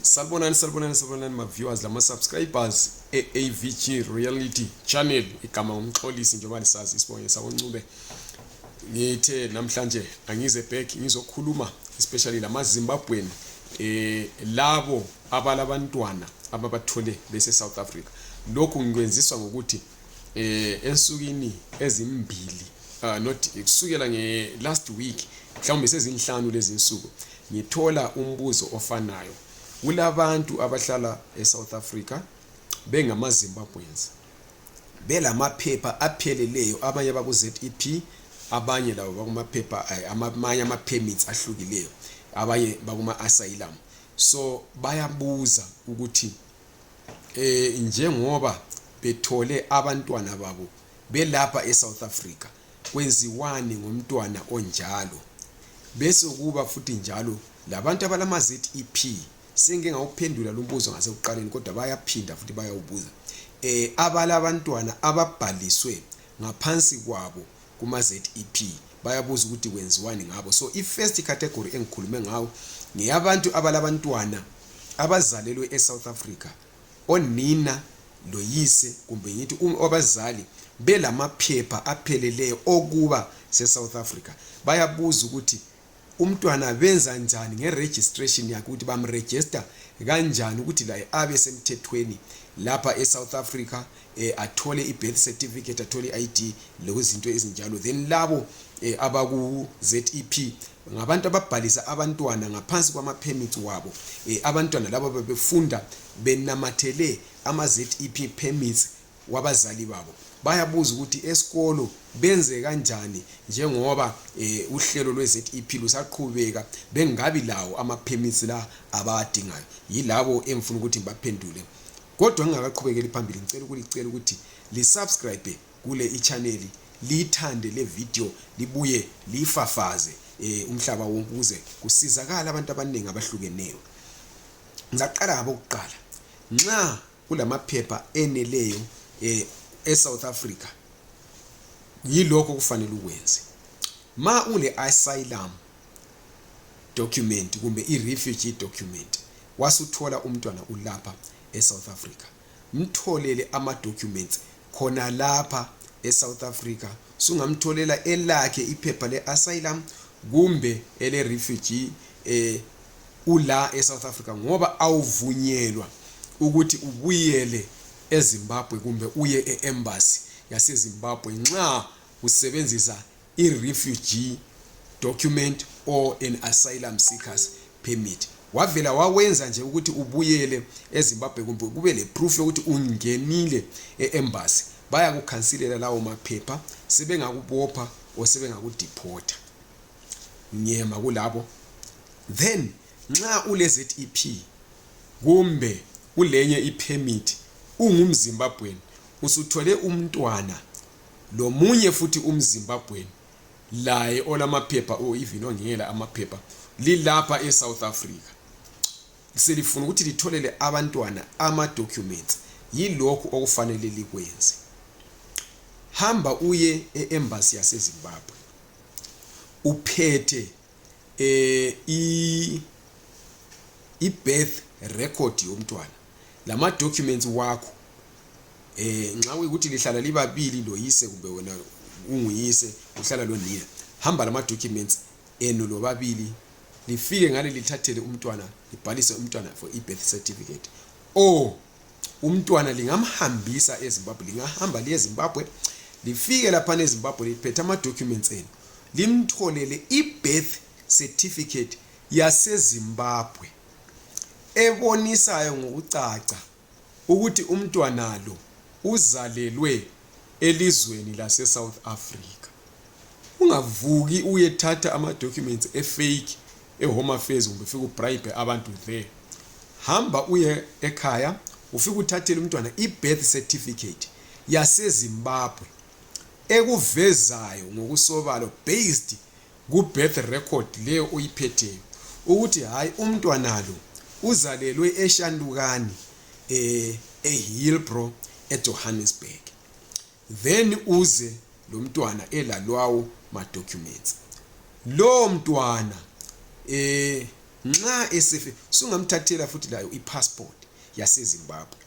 Salbonani salbonani salbonani ma viewers lama subscribers e AVG Reality Channel igama umxolisi njengoba lisazi isibonye sakoNcube ngithe namhlanje angize back ngizokhuluma especially lama Zimbabwean eh labo abalabantwana ababathole bese South Africa lokhu ngikwenziswa ngokuthi eh ensukwini ezimbili uh, not kusukela nge last week mhlawumbe sezinhlanu lezi nsuku ngithola umbuzo ofanayo kulabantu abahlala eSouth Africa bengama Zimbabweans belamaphepha apheleleyo abanye bakuZEP abanye labo bakumaphepha eh, amanye ama permits ahlukileyo abanye bakuma asylum so bayabuza ukuthi eh njengoba bethole abantwana babo belapha eSouth Africa Kwenziwani ngomntwana onjalo? Besokuba futhi njalo labantu abalama ZEP sengike ngawuphendula lumbuzo ngasekuqaleni kodwa bayaphinda futhi bayawubuza eh abalabantwana ababhaliswe ngaphansi kwabo kuma ZEP bayabuza ukuthi kwenziwani ngabo so i first category engikhulume ngawo ngeyabantu abalabantwana abazalelwe e South Africa onina loyise kumbe ngithi abazali belamaphepha apheleleyo okuba seSouth Africa bayabuza ukuthi umntwana benza njani ngeregistration yakhe ukuthi bamregister kanjani ukuthi laye abe semthethweni lapha eSouth Africa eh, athole i-birth certificate athole i-id lokuzinto ezinjalo then labo eh, abaku-zep ngabantu ababhalisa abantwana ngaphansi kwamaphemithi wabo um abantwana laba bebefunda benamathele ama-zep permits wabazali babo bayabuza ukuthi esikolo benze kanjani njengoba um uhlelo lwe-zep lusaqhubeka bengabi lawo ama-permits la abawadingayo yilabo engifuna ukuthi ngibaphendule kodwa ngingakaqhubekeli phambili ngicela ukulicela ukuthi lisubscribe kule ichaneli liyithande le video libuye liyifafaze eh, umhlaba wonke ukuze kusizakala abantu abaningi abahlukeneyo ngizaqala ngabokuqala nxa kulamaphepha eneleyo eh, e-south africa yilokho kufanele ukwenze ma ule-asylum document kumbe i refugee document wasuthola umntwana ulapha e South Africa mtholele ama documents khona lapha e South Africa sungamtholela elakhe iphepha le asylum kumbe ele refugee eh ula e South Africa ngoba awuvunyelwa ukuthi ubuyele eZimbabwe kumbe uye e embassy yaseZimbabwe nxa usebenzisa i-refugee document or an asylum seekers permit wavela wawenza nje ukuthi ubuyele ezimbabwe kumbe kube leproof yokuthi ungenile e-embassy bayakukhansilela lawo maphepha sebengakubopha or sebengakudiphotha ngiyema kulabo then nxa ule-zep kumbe ulenye ipermit ungumzimbabweni usuthole umntwana lomunye futhi umzimbabwen laye olamaphepha o oh, even ongela amaphepha lilapha esouth africa selifuna ukuthi litholele abantwana ama-documents yilokhu okufanele likwenze hamba uye e-embasi yasezimbabwe uphethe eh i i birth record yomntwana lama documents wakho eh nxa kuyikuthi lihlala libabili loyise kumbe wena unguyise uhlala lonina hamba lama documents enu lobabili lifike ngale lithathele umntwana libhalise umntwana for i birth certificate or umntwana lingamhambisa ezimbabwe lingahamba liye ezimbabwe lifike laphana ezimbabwe liphethe ama-documents enu limtholele i-birth certificate yasezimbabwe ebonisayo ngokucaca ukuthi umntwana lo uzalelwe elizweni lasesouth africa ungavuki uyethatha ama-documents efake ehome affairs kumbe ufike ubribe abantu there hamba uye ekhaya ufike uthathele umntwana i-birth certificate yasezimbabwe ekuvezayo ngokusobalo based ku-birth record leyo oyiphetheyo ukuthi hhayi umntwana lo uzalelwe eshantukani um eh, ehilbro ejohannesburg then uze lomntwana elalwawo ma documents lowo mntwana eh nxa esefe sungamthathela futhi layo ipassport yasezimbabwe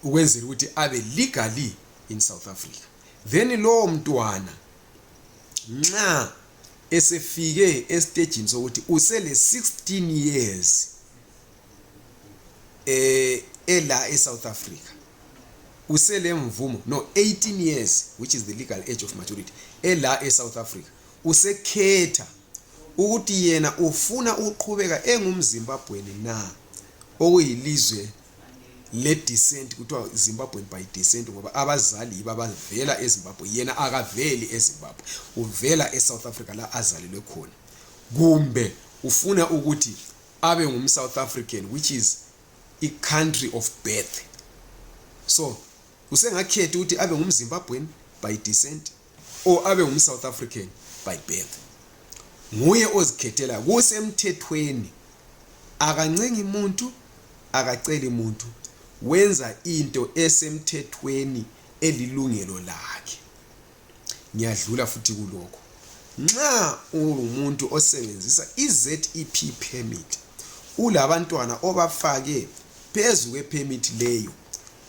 ukwenzela ukuthi abe legally in south africa then lowo mntwana nxa esefike estejini sokuthi usele 16 years eh ela eSouth Africa usele mvumo no 18 years which is the legal age of maturity ela eSouth Africa usekhetha ukuthi yena ufuna uqhubeka engumZimbabweni na okuyilizwe le descent kuthiwa Zimbabwe by descent ngoba abazali yiba bavela eZimbabwe yena akaveli eZimbabwe uvela eSouth Africa la azalelwe khona kumbe ufuna ukuthi abe ngumsouth african which is icountry of birth so usengakhethi ukuthi abe ngumzimbabwen by descent or abe ngumsouth african by birth nguye ozikhethela kusemthethweni akancengi muntu akaceli muntu wenza into esemthethweni elilungelo lakhe ngiyadlula futhi kulokho nxa ungumuntu osebenzisa izep permit ulabantwana obafake phezu kwepermit leyo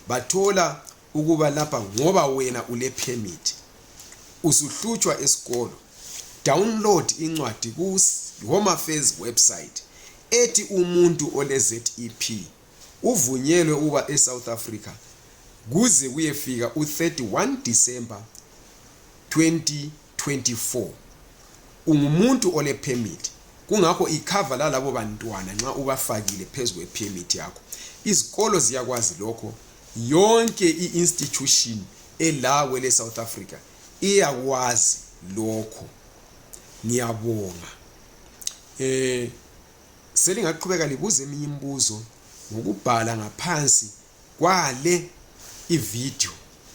bathola ukuba lapha ngoba wena ulepermit usuhlutshwa esikolo download incwadi ku home affairs website ethi umuntu olezep uvunyelwe ukuba eSouth Africa kuze kuyefika u-31 December 2024 ungumuntu olephemithi kungakho ikhava lalabo bantwana nxa ubafakile phezu kwephemithi yakho izikolo ziyakwazi lokho yonke i-institution ela kwele south africa iyakwazi lokho ngiyabonga um Selingaqhubeka libuza eminye imibuzo ngokubhala ngaphansi kwale ivideo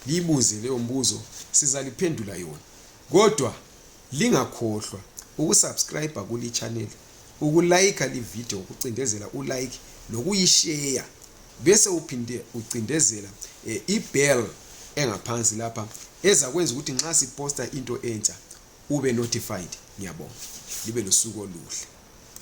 liyibuze leyo mbuzo sizaliphendula yona kodwa lingakhohlwa ukusubscribe kuli channel ukulayikha livideo ukucindezela ulike lokuyisheya bese uphinde ucindezela eh, ibell engaphansi lapha ezakwenza ukuthi nxa siposta into entsha ube notified ngiyabonga libe losuku oluhle